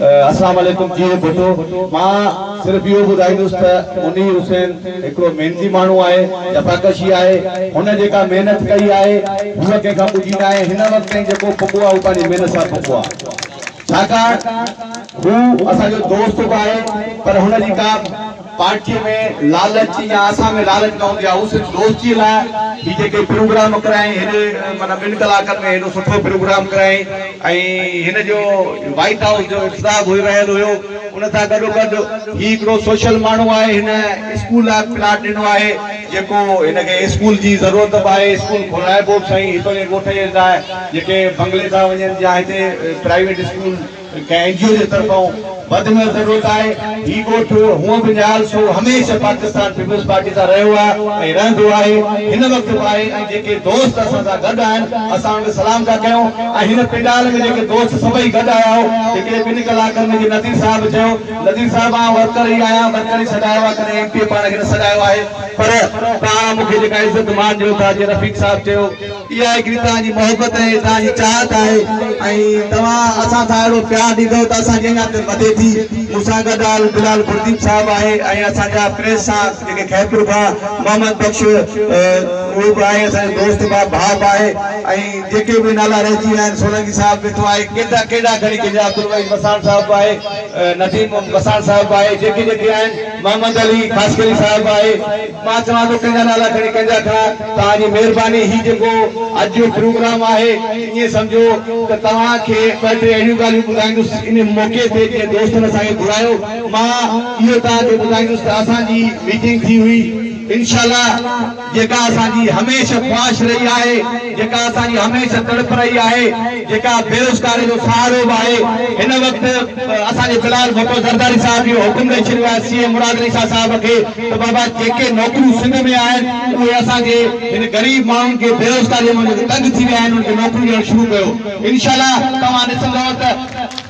اسلام عليڪم جيئي ڀٽو مان صرف اهو ٻڌائيندس ته منير حسين هڪڙو محنتي ماڻهو آهي جفاڪشي آهي هن جيڪا محنت ڪئي آهي هوء ڪنهن کان ٻجهي ناهي هن وقت تائين جيڪو پڳو آهي هو پنهنجي محنت سان پڳو آهي ڇاڪاڻ هو اسان جو دوست به آهي پر هن جي ڪا پارٽي ۾ لالچ يا اسان ۾ لالچ نه هوندي آهي هو صرف دوستي لاء هي جيڪي پروگرام ڪرايائين هيڏي معنيٰ ٻن ڪلاڪن ۾ هيڏو سٺو پروگرام ڪرايائين ۽ هن جو وائيٽ هائوس جو انتظام هوئي رهيل هيو ان سان گڏو گڏ هي هڪڙو سوشل ماڻهو آهي هن اسڪول لاء پلاٽ ڏنو آهي جيڪو هن کي اسڪول جي ضرورت به آهي اسڪول کولائبو به سائين هتو جي ڳوٺ جي لاء جيڪي بنگلي ٿا وڃن يا هتي پرائيويٽ اسڪول ڪنهن اين جي او جي طرفان وڌ ۾ وڌ ضرورت آهي. هي ڳوٺ هونء به نهال سول هميشه پاڪستان پيپلز پارٽي سان رهيو آهي ۽ رهندو آهي. هن وقت به آهي ۽ جيڪي دوست اسان سان گڏ آهن اسان انهن کي سلام ٿا ڪيون ۽ هن پنڊال ۾ جيڪي دوست سڀئي گڏ آيا هو هڪڙي ٻن ڪلاڪن ۾ جي نذير صاحب به چيو نذير صاحب آئون ورڪر ئي آهيان ورڪر ئي سڏايو آهي ڪڏهن ايم پي اي پاڻ کي نه سڏايو آهي پر پاڻ مون کي جيڪا عزت مان ڏيو ٿا جيئن رفيق صاحب چيو. اها هڪڙي توهان جي محبت ۽ توهان جي چاهت آهي ۽ توهان اسان سان اهڙو پيار ڏيندؤ ته اسان جي اڃا دل وڌي ٿي. مون سان گڏ آل بلال گلديپ صاحب آهي ۽ اسان جا پريس سان جيڪي خيرپور کان محمد بخش اهو به آهي اسان جو دوست به آهي ڀاء به آهي ۽ جيڪي به نالا رهجي ويا آهن سولنگي صاحب ويٺو آهي ڪيترا ڪهڙا کڻي ڪجي عبدالوحيد وساڻ صاحب به آهي نديم وساڻ صاحب به آهي جيڪي جيڪي آهن محمد علي خاصخيلي صاحب آهي مان چوان ٿو ڪنهن جا نالا کڻي ڪنهن جا کڻان توهان جي مهرباني هي جيڪو اڄ جو پروگرام آهي ائين سمجهو ته توهان کي ٻه ٽي اهڙيون ڳالهيون ٻڌائيندس ان موقعي تي جنهن دوستن اسان کي گهرايو مان اهو توهان کي ٻڌائيندس ته اسان جي ميٽنگ ٿي هئي انشاء الله جيڪا اسان جي هميشه خواهش رهي آهي، جيڪا اسان جي هميشه تڙپ رهي آهي، جيڪا بيروزگاري جو سهارو به آهي. هن وقت اسان جي بلال ڀٽو زرداري صاحب اهو حڪم ڏئي ڇڏيو آهي سي ايم مراد علي شاهه صاحب کي ته بابا جيڪي نوڪريون سنڌ ۾ آهن اهي اسان جي هن غريب ماڻهن کي بيروزگاري ۾ جيڪي تنگ ٿي ويا آهن انهن کي نوڪريون ڏيڻ شروع ڪيو انشاء الله توهان ڏسندؤ ته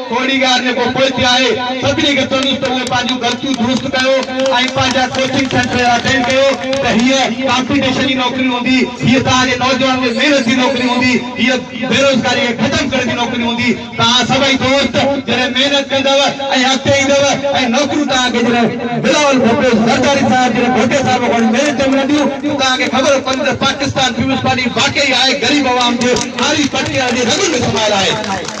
ڪوڙيگار جيڪو پوئتي آهي، سڀني کي چوندس ته اهي پنهنجون غلطيون درست ڪيو ۽ پنهنجا ڪوچنگ سينٽر اهڙا چينج ڪيو ته هيء ڪامپيٽيشن جي نوڪري هوندي، هيء توهان جي نوجوانن جي محنت جي نوڪري هوندي، هيء بيروزگاري کي ختم ڪرڻ جي نوڪري هوندي، توهان سڀئي دوست جڏهن محنت ڪندؤ ۽ اڳتي ايندؤ ۽ نوڪريون توهان کي جڏهن بلاول ڀٽو زرداري صاحب جيڏي ڀٽي صاحب کان وٺي ميرين تائين ملنديون ته توهان کي خبر پوندي ته پاڪستان پيپلز پارٽي واقعي آهي غريب عوام جي هاري پٽڪي وارن جي رڳن ۾ سمايل آهي.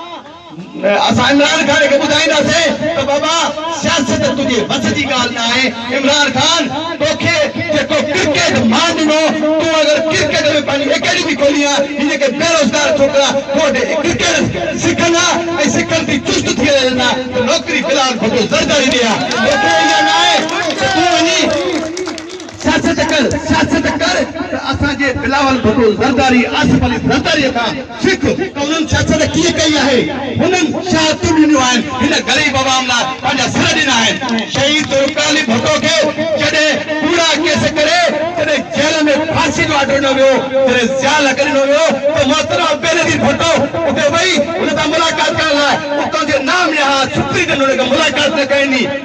اسان عمران خان کي ٻڌائينداسين ته بابا سياست تنهنجي وس جي ڳالهه نه آهي، عمران خان توکي جيڪو ڪرڪيٽ مان ڏنو، تون اگر ڪرڪيٽ ۾ پنهنجي اڪيڊمي کولين ها، هي جيڪي بيروزگار ڇوڪرا تو وٽ ڪرڪيٽ سکن ها ۽ سکن ٿي چست ٿي رهيا آهن ته نوڪري بلال ڀٽو زرداري ڏي ها، توکي اها نه آهي ته تون وڃي. سياست ڪر سياست ڪر ته اسان جي بلاول ڀٽو زرداري آصف علي زرداري کان سک ته انهن سياست ڪيئن ڪئي آهي هنن شهادتون ڏنيون آهن هن غريب عوام لاء پنهنجا سر ڏنا آهن شهيد ذوالفقار علي ڀٽو کي جڏهن ڪوڙا ڪيس ڪري جڏهن جيل ۾ ڦاسي جو آرڊر ڏنو ويو جڏهن ضياء الحق ڏنو ويو ته محترمه بي نظير ڀٽو اتي وئي هن سان ملاقات ڪرڻ لاء اتان جي نام نهاد سپرينٽنڊنٽ ملاقات نه ڪئي ني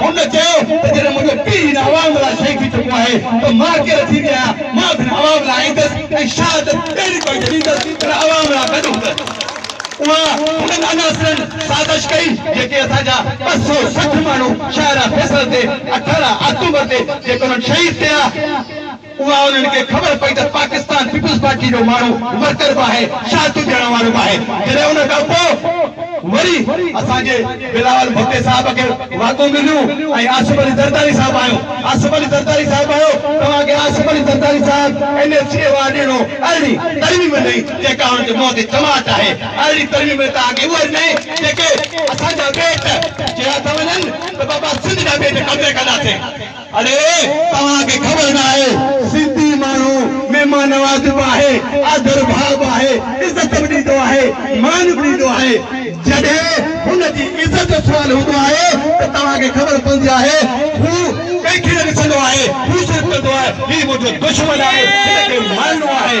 هن چيو ته جڏهن منهنجو پيء هن عوام لاء شهيد ٿي چڪو آهي ته مان ڪير ٿيندي آهيان، مان به هن عوام لاء ايندس ۽ شهادت اهڙي طريقي ڏيندس پر عوام لاء گڏ هوندس. اها انهن عناصرن سازش ڪئي جيڪي اسان جا ٻه سؤ سٺ ماڻهو شاهراهه فيصل تي اٺارهن آڪٽوبر تي جيڪي انهن شهيد ڪيا، اها انهن کي خبر پئي ته پاڪستان پيپلز پارٽي جو ماڻهو ورڪر به آهي، شهادتون ڏيڻ وارو به آهي. جڏهن ان کان پوء وري اسان جي بلاول ڀٽي صاحب کي واڳون مليون ۽ آصف علي زرداري صاحب آيو، آصف علي زرداري صاحب آيو، توهان کي آصف علي زرداري صاحب N F C award ڏنو، ارڙهين ترميم ڏني جيڪا هن جي منهن تي چماٽ آهي، ارڙهين ترميم ۾ توهان کي اهي ڏني جيڪي اسان جا ٻيٽ چيا ٿا وڃن ته بابا سنڌ جا ٻيٽ قبضي ڪنداسين. اڙي توهان کي خبر ناهي سنڌي ماڻهو مهمان نوازي به آهي آڌر ڀاء به آهي عزت به ڏيندو آهي مان به ڏيندو آهي جڏهن هن جي عزت جو سوال هوندو آهي ته توهان کي خبر پوندي آهي هو ڪنهن کي نه ڏسندو آهي هو صرف چوندو آهي هي منهنجو دشمن آهي هن کي مارڻو آهي.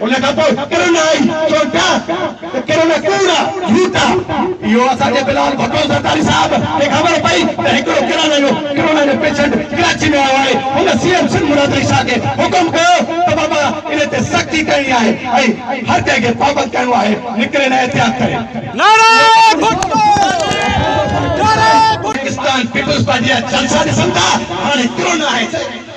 ان کان پوء ڪرن آئي چونٽا ته ڪرن ڪوڙا جھوٽا اهو اسان جي بلال ڀٽو زرداري صاحب کي خبر پئي ته هڪڙو ڪرن جو ڪرونا جو پيشنٽ ڪراچي ۾ آيو آهي هن سي ايم سنڌ مراد علي شاهه کي حڪم ڪيو ته بابا ان تي سختي ڪرڻي آهي ۽ هر ڪنهن کي پابند ڪرڻو آهي نڪري نه احتياط ڪري. نعرا ڀٽو نعرا ڀٽو. پاڪستان پيپلز پارٽي جا جلسا ڏسن ٿا هاڻي ڪرونا آهي.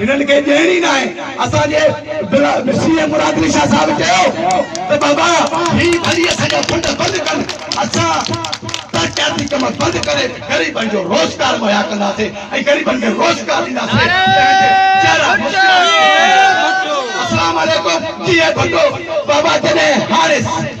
هنن کي ڏيڻي ناهي اسان جي سي ايم مراد علي شاهه صاحب چيو ته بابا هي ڀلي اسان جا فنڊ بند ڪن اسان ترقياتي ڪم بند ڪري غريبن جو روزگار مهيا ڪنداسين ۽ غريبن کي روزگار ڏينداسين تنهن تي چهرا مسڪرائي اسلام عليڪم جي اي ڀٽو بابا جڏهن هاڻي